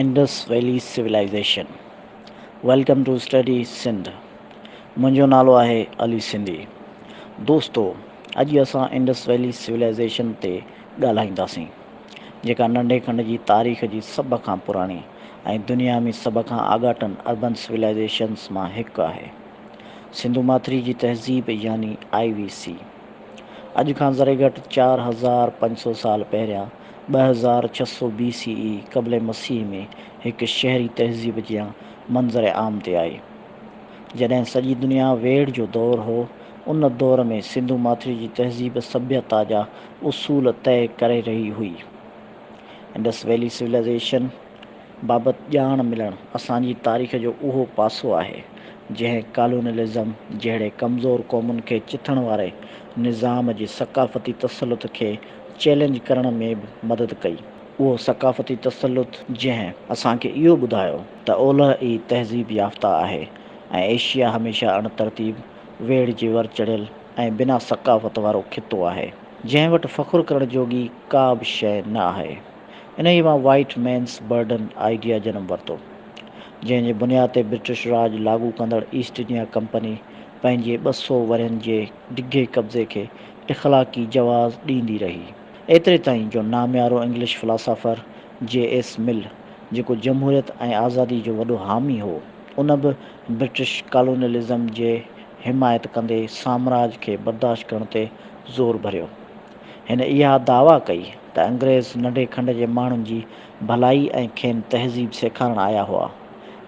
Indus valley civilisation welcome to study Sindh منهنجو نالو آهي علي سنڌي دوستو اڄ اسان انڊس ويلي سولائيزيشن تي ڳالهائينداسين جيڪا ننڍي کنڊ جي تاريخ جي سڀ کان پراڻي ۽ دنيا ۾ سڀ کان آڳاٽن اربن سولائيزيشنس مان هڪ آهي سنڌو ماٿري جي تهذيب يعني آئي وي سي اڄ کان ذري گهٽ چار هزار پنج سو سال پهريان ٻه هزار ڇهه سؤ بي سي اي قبل مسيح ۾ هڪ شهري تهذيب جيان منظر عام تي آئي. جڏهن سڄي دنيا ويڙهه جو دور هو، ان دور ۾ سنڌو ماٿري جي تهذيب سڀيتا جا اصول طئي ڪري رهي هئي. انڊس ويلي سولائيزيشن، بابت ڄاڻ ملڻ اسان جي تاريخ جو اهو پاسو آهي، جنهن ڪالونيلزم جهڙي ڪمزور قومن کي چٿڻ واري نظام جي ثقافتي تسلط کي چئلينج ڪرڻ ۾ به مدد ڪئي. اهو ثقافتي تسلط جنهن اسان کي اهو ٻڌايو ته اولهه ئي تهذيب يافته آهي ۽ ايشيا هميشه اڻ ترتيب، ويڙهه جي ور چڙهيل ۽ بنا ثقافت وارو خطو آهي، جنهن وٽ فخر ڪرڻ جوڳي ڪا به شيء نه آهي. انهيء مان وائيٽ مينس برڊن آئيڊيا جنم ورتو، جنهن جي بنياد تي برٽش راڄ لاڳو ڪندڙ ايسٽ انڊيا ڪمپني پنهنجي ٻه سؤ ورهين جي ڊگهي قبضي کي اخلاقي جواز ڏيندي رهي. ايتري تائين جو ناميارو English philosopher J S Mill, جيڪو جمهوريت ۽ آزادي جو وڏو حامي هو، ان به برٽش ڪالونيلزم جي حمايت ڪندي سامراج کي برداشت ڪرڻ تي زور ڀريو. هن اها دعويٰ ڪئي ته انگريز ننڍي کنڊ جي ماڻهن جي ڀلائي ۽ کين تهذيب سيکارڻ آيا هئا،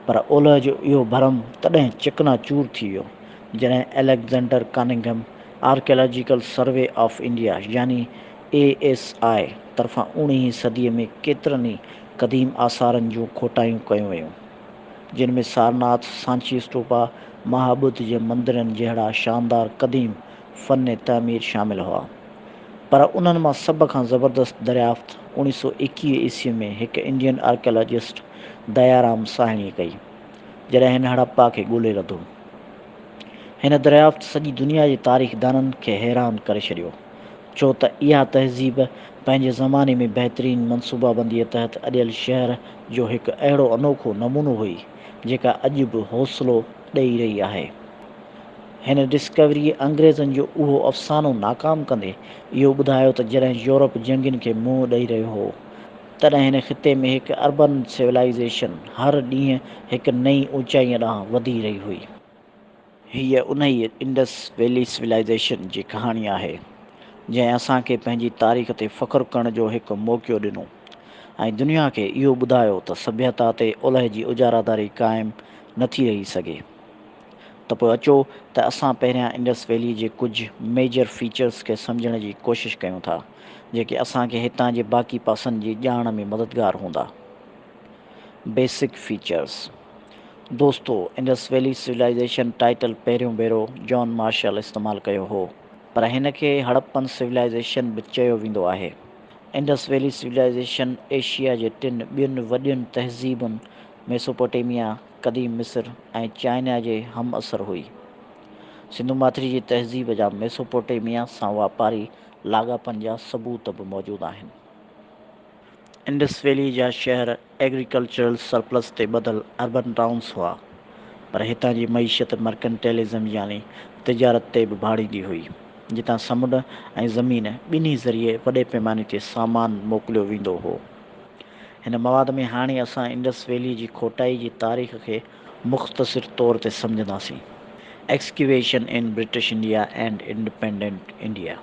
پر اولهه جو اهو ڀرم تڏهن چڪنا چور ٿي ويو، جڏهن Alexander Cunningham Archaeological Survey of India يعني اي ايس آء طرفان اوڻيهين صديء ۾ ڪيترن ئي قديم آثارن جون کوٽايون ڪيون ويون، جن ۾ سارناٿ، سانچي اسٽوپا، مها ٻڌ جي مندرن جهڙا شاندار قديم فن تعمير شامل هئا، پر انهن مان سڀ کان زبردست دريافت اوڻيهه سؤ ايڪيهه عيسوي ۾ هڪ انڊين آرڪيالاجسٽ ديارام ساهڻيء ڪئي، جڏهن هن هڙپا کي ڳولي لڌو. هن دريافت سڄي دنيا جي تاريخدانن کي حيران ڪري ڇڏيو، ڇو ته اها تهذيب پنهنجي زماني ۾ بهترين منصوبابنديء تحت اڏيل شهر جو هڪ اهڙو انوکو نمونو هئي، جيڪا اڄ به حوصلو ڏئي رهي آهي. هن ڊسڪوريء انگريزن جو اهو افسانو ناڪام ڪندي اهو ٻڌايو ته جڏهن يورپ جنگين کي منهن ڏئي رهيو هو، تڏهن هن خطي ۾ هڪ اربن سولائيزيشن هر ڏينهن هڪ نئين اوچائيء ڏانهن وڌي رهي هئي. هيء انهيء انڊس ويلي سولائيزيشن جي ڪهاڻي آهي، جنهن اسان کي پنهنجي تاريخ تي فخر ڪرڻ جو هڪ موقعو ڏنو ۽ دنيا کي اهو ٻڌايو ته سڀيتا تي اولهه جي اجاراداري قائم نه ٿي رهي سگهي. ته پوء اچو ته اسان پهريان انڊس ويلي جي ڪجهه ميجر فيچرز کي سمجهڻ جي ڪوشش ڪيون ٿا، جيڪي اسان کي هتان جي باقي پاسن جي ڄاڻ ۾ مددگار هوندا. بيسڪ فيچرز دوستو انڊس ويلي سولائيزيشن ٽائيٽل پهريون ڀيرو جان مارشل استعمال ڪيو هو، پر هن کي هڙپن سولائيزيشن به چيو ويندو آهي. انڊس ويلي سولائيزيشن ايشيا جي ٽن ٻين وڏين تهذيبن ميسوپوٽيميا، قديم مصر ۽ چائنا جي همعصر هئي. سنڌو ماٿري جي تهذيب جا ميسوپوٽيميا سان واپاري لاڳاپن جا ثبوت به موجود آهن. انڊس ويلي جا شهر ايگريڪلچرل سرپلس تي ٻڌل اربن ٽائونز هئا، پر هتان جي معيشت مرڪنٽيلزم يعني تجارت تي به ڀاڙيندي هئي، جتان سمنڊ ۽ زمين ٻنهي ذريعي وڏي پيماني تي سامان موڪليو ويندو هو. هن مواد ۾ هاڻي اسان انڊس ويلي جي کوٽائي جي تاريخ کي مختصر طور تي سمجهنداسين. Excavation in British India and Independent India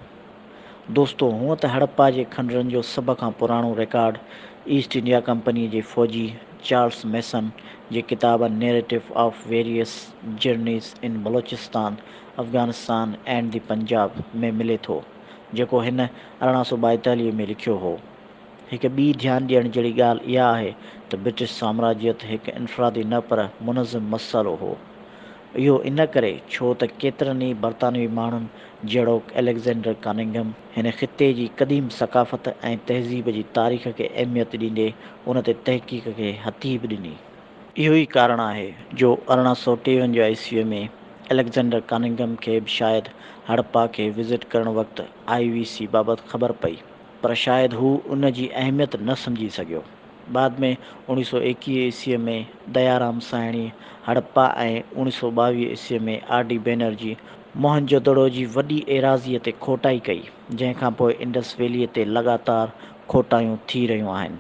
دوستو هونء ته هڙپا جي کنڊرن جو سڀ کان پراڻو رڪارڊ ايسٽ انڊيا ڪمپنيء جي فوجي چارلس ميسن جي ڪتاب A Narrative of Various Journeys in Balochistan, Afghanistan and the Punjab ۾ ملي ٿو، جيڪو هن ارڙهن سؤ ٻائيتاليهه ۾ لکيو هو. هڪ ٻي ڌيان ڏيڻ جهڙي ڳالهه اها آهي ته برٽش سامراجيت هڪ انفرادي نه پر منظم مسئلو هو. اهو ان ڪري ڇو ته ڪيترن ئي برطانوي ماڻهن جهڙوڪ اليگزينڊر ڪاننگهم هن خطي جي قديم ثقافت ۽ تهذيب جي تاريخ کي اهميت ڏيندي ان تي تحقيق کي هٿي به ڏني. اهو ئي ڪارڻ آهي جو ارڙهن سؤ ٽيونجاهه عيسويء ۾ اليگزينڊر ڪاننگهم کي به شايد هڙپا کي وزٽ ڪرڻ وقت آء وي سي بابت خبر پئي. پر شايد هو ان جي اهميت نه سمجهي سگهيو. بعد ۾ اوڻيهه سؤ ايڪيهه عيسويء ۾ ديارام سائڻي هڙپا ۽ اوڻيهه سؤ ٻاويهه عيسويء ۾ R D Banerji Mohenjodaro جي وڏي ايراضيء تي کوٽائي ڪئي، جنهن کان پوء انڊس ويلي تي لڳاتار کوٽايون ٿي رهيون آهن،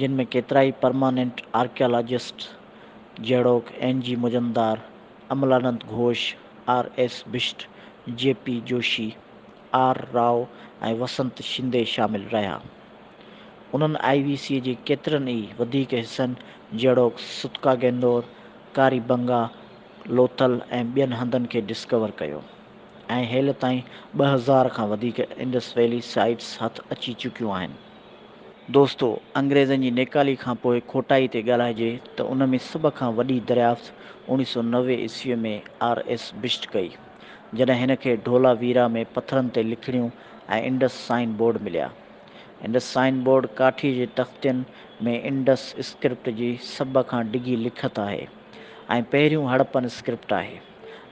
جن ۾ ڪيترائي پرماننٽ آرڪيالاجسٽ جهڙوڪ N G Majumdar, Amalananda Ghosh, R S Bisht, J P Joshi, R Rao ۽ وسنت شندي شامل رهيا. انهن آء وي سي جي ڪيترن ئي وڌيڪ حصن جهڙوڪ ستڪا گينور، ڪاري بنگا، لوٿل ۽ ٻين هنڌن کي ڊسڪور ڪيو ۽ هيل تائين ٻه هزار کان وڌيڪ انڊس ويلي سائيٽس هٿ اچي چڪيون آهن. دوستو! انگريزن جي نيڪالي کان پوء کوٽائي تي ڳالهائجي ته ان ۾ سڀ کان وڏي دريافت اوڻيهه سؤ نوي عيسويء ۾ آر ايس بشٽ ڪئي. جڏهن هن کي ڍولا ويرا ۾ پٿرن تي لکڻيون ۽ انڊس سائن بورڊ مليا. انڊس سائن بورڊ ڪاٺيء جي تختين ۾ انڊس اسڪرپٽ جي سڀ کان ڊگهي لکت آهي ۽ پهريون هڙپن اسڪرپٽ آهي،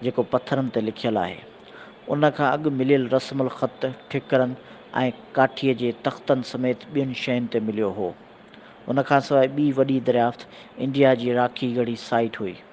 جيڪو پٿرن تي لکيل آهي. ان کان اڳ مليل رسم الخط ٺڪرن ۽ ڪاٺيء جي تختن سميت ٻين شين تي مليو هو. ان کانسواء ٻي وڏي دريافت انڊيا جي راکي ڳڙهي سائيٽ هئي.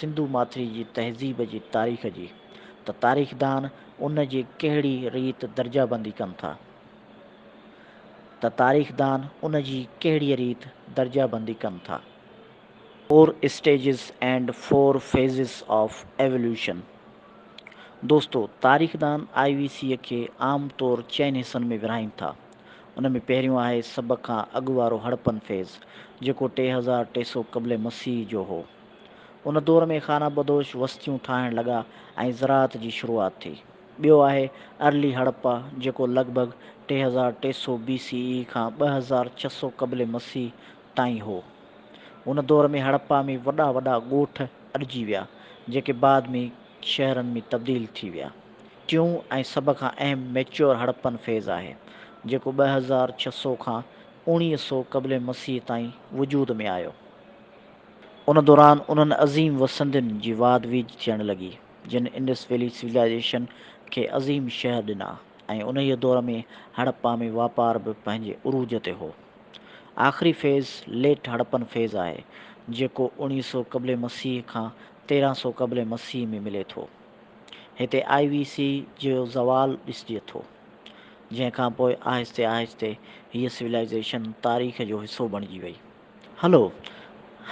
سنڌو ماٿري جي تهذيب جي تاريخ جي ته تاريخدان ان جي ڪهڙي ريت درجه بندي ڪن ٿا ته تاريخدان ان جي ڪهڙيء ريت درجه بندي ڪن ٿا. Four stages and four phases of evolution دوستو تاريخدان آء وي سيء کي عام طور چئن حصن ۾ ورهائين ٿا. ان ۾ پهريون آهي سڀ کان اڳ وارو هڙپن فيز، جيڪو ٽي هزار ٽي سؤ قبل مسيح جو هو. ان دور ۾ خانه بدوش وستيون ٺاهڻ لڳا ۽ زراعت جي شروعات ٿي. ٻيو آهي ارلي هڙپا، جيڪو لڳ ڀڳ ٽي هزار ٽي سؤ بي سي اي کان ٻه هزار ڇهه سؤ قبل مسيح تائين هو. ان دور ۾ هڙپا ۾ وڏا وڏا ڳوٺ اڏجي ويا، جيڪي بعد ۾ شهرن ۾ تبديل ٿي ويا. ٽيون ۽ سڀ کان اهم ميچيور هڙپن فيز آهي، جيڪو ٻه هزار ڇهه سؤ کان اوڻيهه سؤ قبل مسيح تائين وجود ۾ آيو. ان دوران انهن عظيم وسندين جي واڌ ويجهه ٿيڻ لڳي، جن انڊس ويلي سولائيزيشن کي عظيم شهر ڏنا ۽ انهيء دور ۾ هڙپا ۾ واپار به پنهنجي عروج تي هو. آخري فيز ليٽ هڙپن فيز آهي، جيڪو اوڻيهه سؤ قبل مسيح کان تيرهن سؤ قبل مسيح ۾ ملي ٿو. هتي آء وي سي جو زوال ڏسجي ٿو، جنهن کان پوء آهستي آهستي هيء سولائيزيشن تاريخ جو حصو بڻجي وئي. هلو،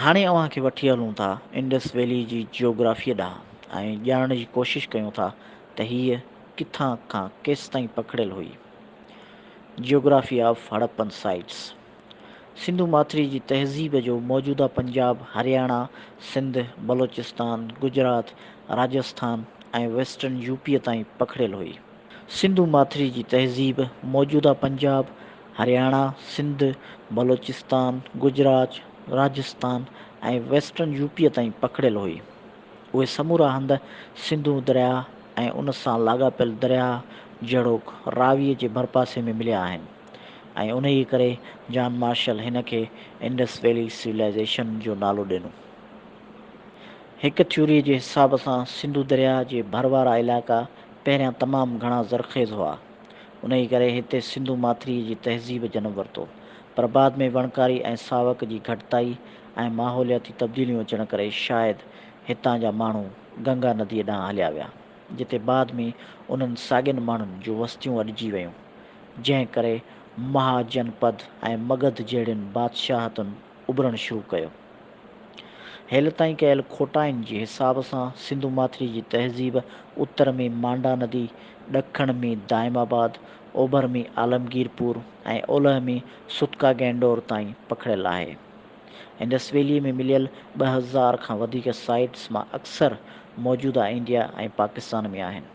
هاڻي اوهان کي وٺي هلون ٿا انڊس ويلي جي جيوگرافيء ڏانهن ۽ ڄاڻڻ جي ڪوشش ڪيون ٿا ته هيء ڪٿان کان ڪيستائين پکڙيل هئي. Geography of Harappan sites. Sindhu ماٿري جي تهذيب جو موجوده Punjab, Haryana, Sindh, Balochistan, Gujarat, Rajasthan ۽ western U P تائين پکڙيل هئي. سنڌو ماٿري جي تهذيب موجوده Punjab, Haryana, Sindh, Balochistan, Gujarat, Rajasthan ۽ western U P تائين پکڙيل هئي. اهي سمورا هنڌ سنڌو درياهه ۽ ان سان لاڳاپيل درياهه جهڙوڪ راوي جي ڀرپاسي ۾ مليا آهن. ۽ انهيء ڪري جان مارشل هن کي انڊس ويلي سولائيزيشن جو نالو ڏنو. هڪ ٿيوريء جي حساب سان سنڌو درياء جي ڀر وارا علائقا پهريان تمام گهڻا زرخيز هئا، انهيء ڪري هتي سنڌو ماٿريء جي تهذيب جنم ورتو، پر بعد ۾ وڻڪاري ۽ ساوڪ جي گهٽتائي ۽ ماحولياتي تبديليون اچڻ ڪري شايد هتان جا ماڻهو گنگا نديء ڏانهن هليا ويا، جتي بعد ۾ انهن ساڳين ماڻهن جون وستيون اڏجي ويون. جنهن ڪري مها جنپد ۽ مگڌ جهڙين بادشاهتن اڀرڻ شروع ڪيو. هيل تائين ڪيل کوٽائن جي حساب سان سنڌو ماٿري جي تهذيب اتر ۾ مانڊا ندي، ڏکڻ ۾ دائم آباد، اوڀر ۾ عالمگير پور ۽ اولهه ۾ سوتڪا گئنڊور تائين پکڙيل آهي. انڊس ويلي ۾ مليل ٻه هزار کان وڌيڪ سائيٽس مان اڪثر موجوده انڊيا ۽ پاڪستان ۾ آهن.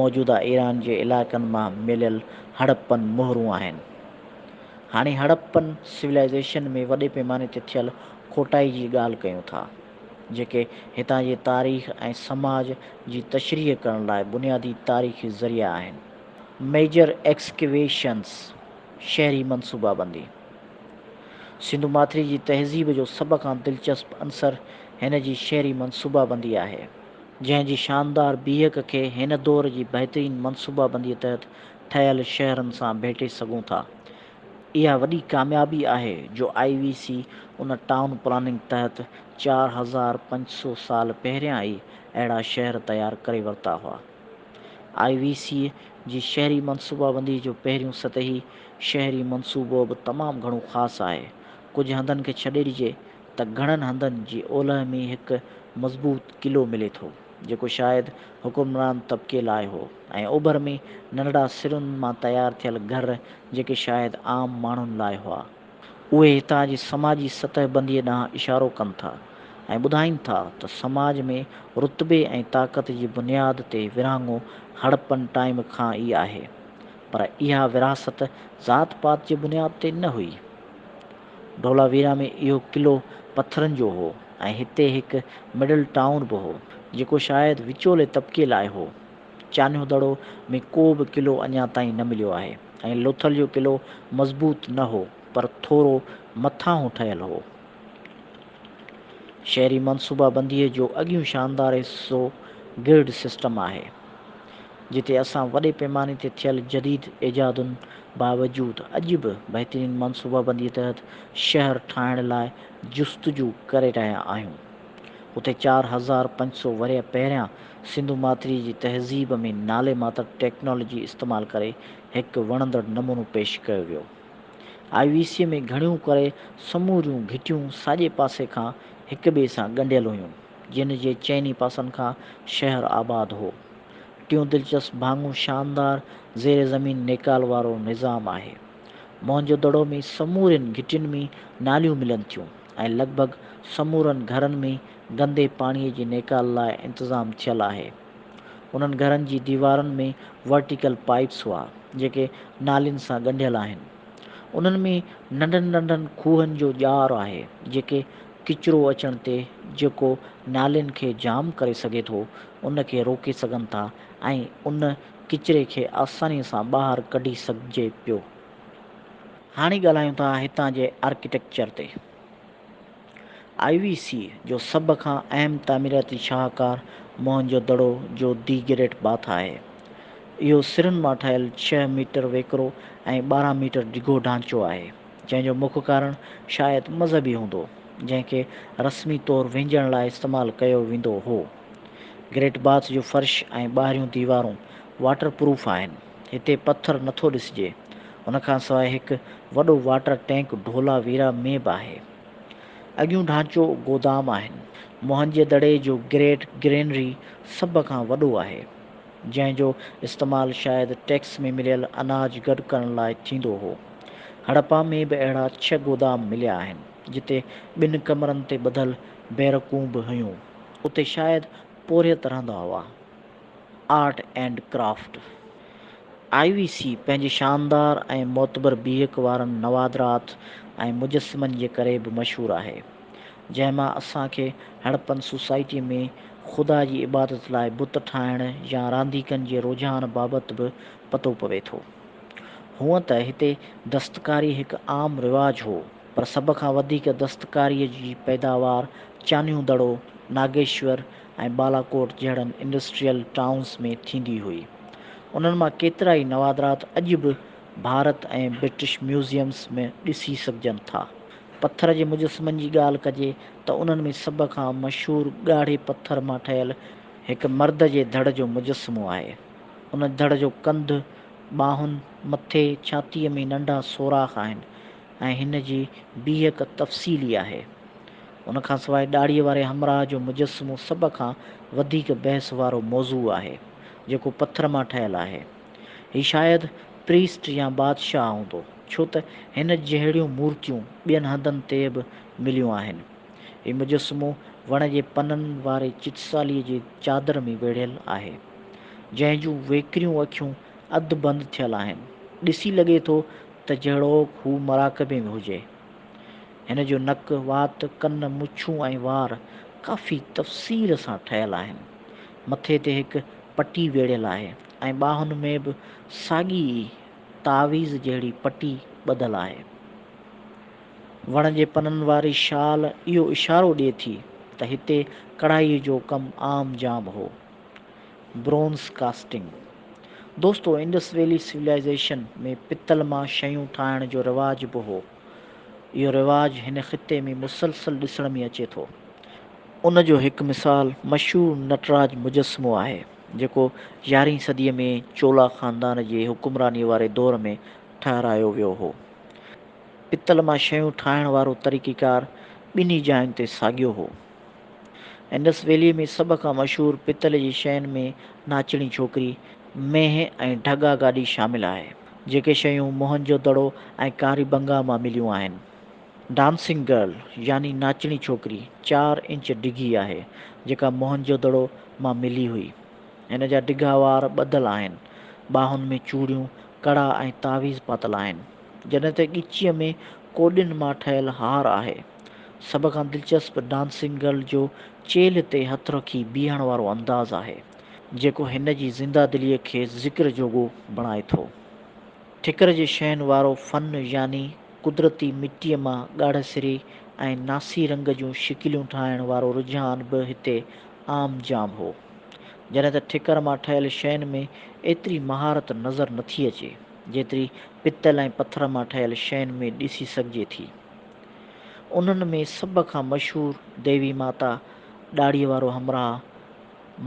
موجوده ايران جي علائقن مان مليل هڙپن مهرون آهن. هاڻي هڙپن سولائيزيشن ۾ وڏي پيماني تي ٿيل کوٽائي جي ڳالهه ڪيون ٿا، جيڪي هتان جي تاريخ ۽ سماج جي تشريح ڪرڻ لاء بنيادي تاريخي ذريعا آهن. ميجر ايڪسڪيويشنز، شهري منصوبابندي، سنڌو ماٿري جي تهذيب جو سڀ کان دلچسپ عنصر هن جي شهري منصوبابندي آهي. جنهن جي شاندار بيهڪ کي هن دور جي بهترين منصوبابنديء تحت ٺهيل شهرن سان ڀيٽي سگهون ٿا. اها وڏي ڪاميابي آهي جو آء وي سي ان ٽائون پلاننگ تحت چار هزار پنج سو سال پهريان ئي اهڙا شهر تيار ڪري ورتا هئا. آء وي سيء جي شهري منصوبابنديء جو پهريون سطحي شهري منصوبو به تمام گهڻو خاص آهي. ڪجهه هنڌن کي ڇڏي ڏجي ته گهڻن هنڌن جي اولهه ۾ هڪ مضبوط قلعو ملي ٿو، جيڪو شايد حڪمران طبقي لاء هو ۽ اوڀر ۾ ننڍڙا سرن مان تيار ٿيل گهر جيڪي شايد عام ماڻهن لاء هئا. اهي هتان جي سماجي سطح بنديء ڏانهن اشارو ڪن ٿا ۽ ٻڌائين ٿا ته سماج ۾ رتبي ۽ طاقت جي بنياد تي ورهاڱو هڙپن ٽائيم کان ئي آهي. پر اها ورهاست ذات پات جي بنياد تي نه هئي. ڍولاويرا ۾ اهو قلعو پٿرن جو هو ۽ هتي هڪ مڊل ٽائون به هو، جيڪو شايد وچولي طبقي لاء هو. چانهدڙو ۾ ڪو به قلعو اڃا تائين نه مليو آهي ۽ لوٿل جو قلعو مضبوط نه هو پر ٿورو مٿانهون ٺهيل هو. شهري منصوبابنديء جو اڳيون شاندار حصو گرڊ سسٽم آهي. جتي اسان وڏي پيماني تي ٿيل جديد ايجادن باوجود اڄ به بهترين منصوبابنديء تحت شهر ٺاهڻ لاء جستجو ڪري رهيا آهيون. اتي چار هزار پنج سؤ ورهيه پهريان سنڌو ماٿريء جي تهذيب ۾ نالي ماتر ٽيڪنالاجي استعمال ڪري هڪ وڻندڙ نمونو پيش ڪيو ويو. آء وي سيء ۾ گهڻيون ڪري سموريون گهٽيون ساڄي پاسي کان هڪٻئي سان ڳنڍيل هيون. جنھن جي چئني پاسن کان شهر آباد هو. ٽيون دلچسپ ڀاڱو شاندار زير زمين نيڪال وارو نظام آهي. موهنجو دڙو ۾ سمورين گهٽين ۾ ناليون ملن ٿيون ۽ لڳ ڀڳ سمورن گهرن ۾ گندي پاڻي جي نيڪال لاء انتظام ٿيل آهي. انهن گهرن جي ديوارن ۾ ورٽيڪل پائيپس هئا جيڪي نالين سان ڳنڍيل آهن. انهن ۾ ننڍن ننڍن کوهن جو ڄار آهي جيڪي ڪچرو اچڻ تي جيڪو نالين کي جام ڪري سگهي ٿو ان کي روڪي سگهن ٿا ۽ ان ڪچري کي آساني سان ٻاهر ڪڍي سگهجي پيو. هاڻي ڳالهايون ٿا هتان جي آرڪيٽيڪچر تي. آء وي سي جو سڀ کان اهم تعميراتي شاهڪار موهن جو دڙو جو دي گريٽ باٿ آهي. اهو سرن مان ٺهيل ڇهه ميٽر ويڪرو ۽ ٻارهن ميٽر ڊگهو ڍانچو آهي. جنهن جو مک ڪارڻ شايد مذهبي هوندو، جنهن کي رسمي طور وهنجڻ لاء استعمال ڪيو ويندو هو. گريٽ باٿ جو فرش ۽ ٻاهريون ديوارون واٽر پروف آهن. هتي پٿر نٿو ڏسجي. ان کان سواء هڪ وڏو واٽر ٽينڪ ڍولا ويرا ۾ به آهي. اڳيون ڍانچو گودام آهن. موهن جي دڙي جو گريٽ گرينري سڀ کان وڏو آهي. جنهن جو استعمال شايد ٽيڪس ۾ مليل اناج گڏ ڪرڻ لاء ٿيندو هو. هڙپا ۾ به اهڙا ڇهه گودام مليا آهن، جتي ٻن ڪمرن تي ٻڌل بيرڪون به هيون. اتي شايد پورهيت رهندا هئا. Art and craft I V C پنهنجي شاندار ۽ معتبر بيهڪ وارن نوادرات ۽ مجسمن جي ڪري به مشهور آهي. جنهن مان اسان کي هڙپن سوسائٽي ۾ خدا جي عبادت لاء بت ٺاهڻ يا رانديڪن جي رجحان بابت به پتو پوي ٿو. هونئن ته هتي دستڪاري هڪ عام رواج هو، پر سڀ کان وڌيڪ دستڪاريء جي پيداوار چانهيون دڙو، ناگيشور ۽ بالاڪوٽ جهڙن انڊسٽريل ٽائونز ۾ ٿيندي هئي. انهن مان ڪيترائي نوادرات اڄ به ڀارت ۽ برٽش ميوزيمز ۾ ڏسي سگهجن ٿا. پٿر جي مجسمن جي ڳالهه ڪجي ته انهن ۾ سڀ کان مشهور ڳاڙهي پٿر مان ٺهيل هڪ مرد جي ڌڙ جو مجسمو آهي. ان ڌڙ جو ڪنڌ، ٻانهن، مٿي، ڇاتيء ۾ ننڍا سوراخ آهن ۽ هن جي بيهڪ تفصيلي آهي. ان کان سواء ڏاڙهيء واري همراهه جو مجسمو سڀ کان وڌيڪ بحث وارو موضوع آهي، جيڪو پٿر مان ٺهيل آهي. هي شايد پريسٽ يا بادشاهه هوندو، ڇو ته هن جهڙيون مورتيون ٻين هنڌن تي به مليون آهن. هي مجسمو وڻ جي پنن واري چتساليء جي چادر ۾ ويڙهيل آهي، جنهن جون ويڪريون اکيون اڌ بند ٿيل آهن. ڏسي لڳي ٿو ته جهڙوڪ هو مراقبي ۾ هجي. هن جو نڪ، وات، ڪن، مڇون ۽ وار ڪافي تفصيل سان ٺهيل آهن. مٿي تي هڪ پٽي ويڙهيل آهي. ۽ ٻانهن ۾ به ساڳي ئي تعويذ جهڙي پٽي ٻڌل آهي. وڻ جي پنن واري شال اهو اشارو ڏئي ٿي ته هتي ڪڙهائيء جو ڪم عام جام هو. Bronze casting. دوستو انڊس ويلي سولائيزيشن ۾ پتل مان شيون ٺاهڻ جو رواج به هو. اهو رواج هن خطي ۾ مسلسل ڏسڻ ۾ اچي ٿو. ان جو هڪ مثال مشهور نٽراج مجسمو آهي. جيڪو يارهين صديء ۾ چولا خاندان جي حڪمرانيء واري دور ۾ ٺهرايو ويو هو. پتل مان شيون ٺاهڻ وارو طريقيڪار ٻنهي جاين تي ساڳيو هو. انڊس ويلي ۾ سڀ کان مشهور پتل جي شين ۾ ناچڻي ڇوڪري، مينهن ۽ ڍڳا گاڏي شامل آهي، جيڪي شيون موهن جو دڙو ۽ ڪاري بنگا مان مليون آهن. ڊانسنگ گرل يعني ناچڻي ڇوڪري چار انچ ڊگهي آهي، جيڪا موهن جو دڙو مان ملي هئي. هن جا ڊگها وار ٻڌل آهن. ٻانهن ۾ چوڙيون، ڪڙا ۽ تعويذ پاتل آهن، جڏهن ته ڳچيء ۾ ڪوڏين مان ٺهيل هار آهي. سڀ کان دلچسپ ڊانسنگ گرل جو چيلهه تي هٿ رکي بيهڻ وارو انداز آهي، جيڪو هن جي زنده دليء کي ذڪر جوڳو بڻائي ٿو. ٺڪر جي شين وارو فن يعني قدرتي مٽيء مان ڳاڙهه سري ۽ ناسي رنگ جون شڪليون ٺاهڻ وارو رجحان به هتي عام جام هو. جڏهن ته ٺڪر مان ٺهيل شين ۾ ايتري مهارت نظر نه ٿي اچي، جيتري پتل ۽ پٿر مان ٺهيل شين ۾ ڏسي سگهجي ٿي. انهن ۾ سڀ کان مشهور ديوي ماتا، ڏاڙهيء وارو همراهه،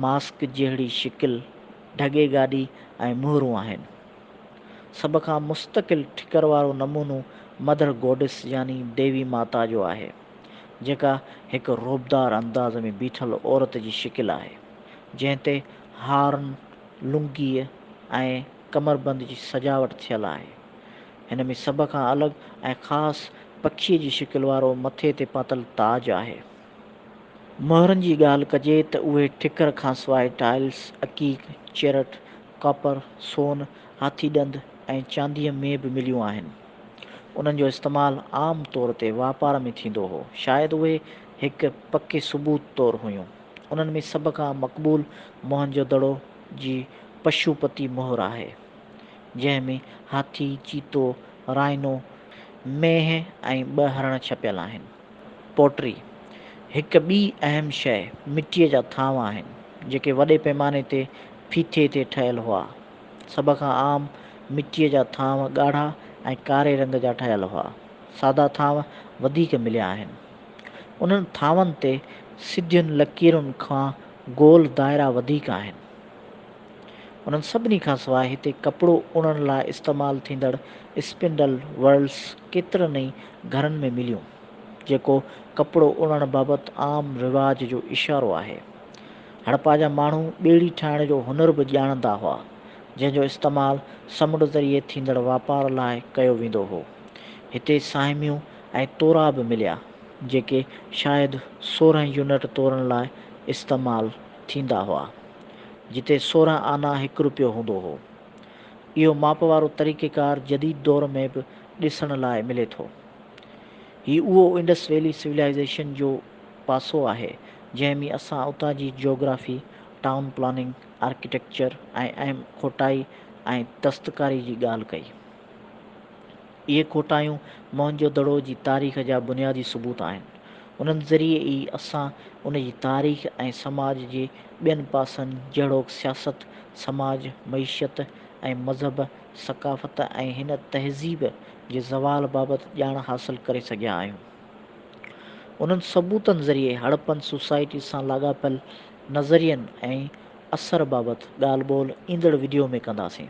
ماسڪ جهڙي شڪل، ڍڳي گاڏي ۽ مهرون آهن. سڀ کان مستقل ٺڪر وارو نمونو مدر گوڊس يعني ديوي ماتا جو آهي، جيڪا هڪ رعبدار انداز ۾ بيٺل عورت جي شڪل آهي، جنهن تي هارن، لنگيء ۽ ڪمربند جي سجاوٽ ٿيل آهي. هن ۾ سڀ کان الڳ ۽ خاص پکيء جي شڪل وارو مٿي تي پاتل تاج آهي. مهرن جي ڳالهه ڪجي ته اهي ٺڪر کانسواء ٽائلس، عقيق، چيرٽ، ڪاپر، سون، هاٿي ڏند ۽ چانديء ۾ به مليون آهن. انهن جو استعمال عام طور تي واپار ۾ ٿيندو هو. شايد اهي هڪ پڪي ثبوت طور هيون. انهن ۾ سڀ کان مقبول موهن جو دڙو جي پشو پتي مهر آهي، جنهن ۾ هاٿي، چيتو، رائنو، مينهن ۽ ٻه هرڻ ڇپيل آهن. پوٽري، هڪ ٻي اهم شيء، مٽيء جا ٿانو آهن، جيڪي وڏي پيماني تي ڦيٿي تي ٺهيل هئا. سڀ کان عام مٽيء جا ٿانو ڳاڙها ۽ ڪاري رنگ جا ٺهيل هئا. سادا ٿانو وڌيڪ مليا آهن. انهن ٿانون تي سڌين لڪيرن کان گول دائرا وڌيڪ آهن. انهن سڀني کان سواء هتي ڪپڙو اڻڻ لاء استعمال ٿيندڙ اسپنڊل ورلس ڪيترن ئي گهرن ۾ مليون، جيڪو ڪپڙو اڻڻ بابت عام رواج جو اشارو آهي. هڙپا جا ماڻهو ٻيڙي ٺاهڻ جو هنر به ڄاڻندا هئا، جنهن جو استعمال سمنڊ ذريعي ٿيندڙ واپار لاء ڪيو ويندو هو. هتي ساهميون ۽ تورا به مليا، جيڪي شايد سورهن يونٽ تورن لاء استعمال ٿيندا هئا. جتي سورهن آنا هڪ روپيو هوندو هو. اهو ماپ وارو طريقيڪار جديد دور ۾ به ڏسڻ لاء ملي ٿو. هي اهو انڊس ويلي سولائيزيشن جو پاسو آهي جنهن ۾ اسان اتان جي جيوگرافي، ٽائون پلاننگ، آرڪيٽيڪچر ۽ اهم کوٽائي ۽ دستڪاري جي ڳالهه ڪئي. اهي کوٽايون موهن جو دڙو جي تاريخ جا بنيادي ثبوت آهن. انهن ذريعي ئي اسان ان جي تاريخ ۽ سماج جي ٻين پاسن جهڙوڪ سياست، سماج، معيشت ۽ مذهب، ثقافت ۽ هن تهذيب جي زوال بابت ڄاڻ حاصل ڪري سگهيا آهيون. انهن ثبوتن ذريعي هڙپن سوسائٽي سان لاڳاپيل نظرين ۽ اثر بابت ڳالهه ٻولهه ايندڙ وڊيو ۾ ڪنداسين.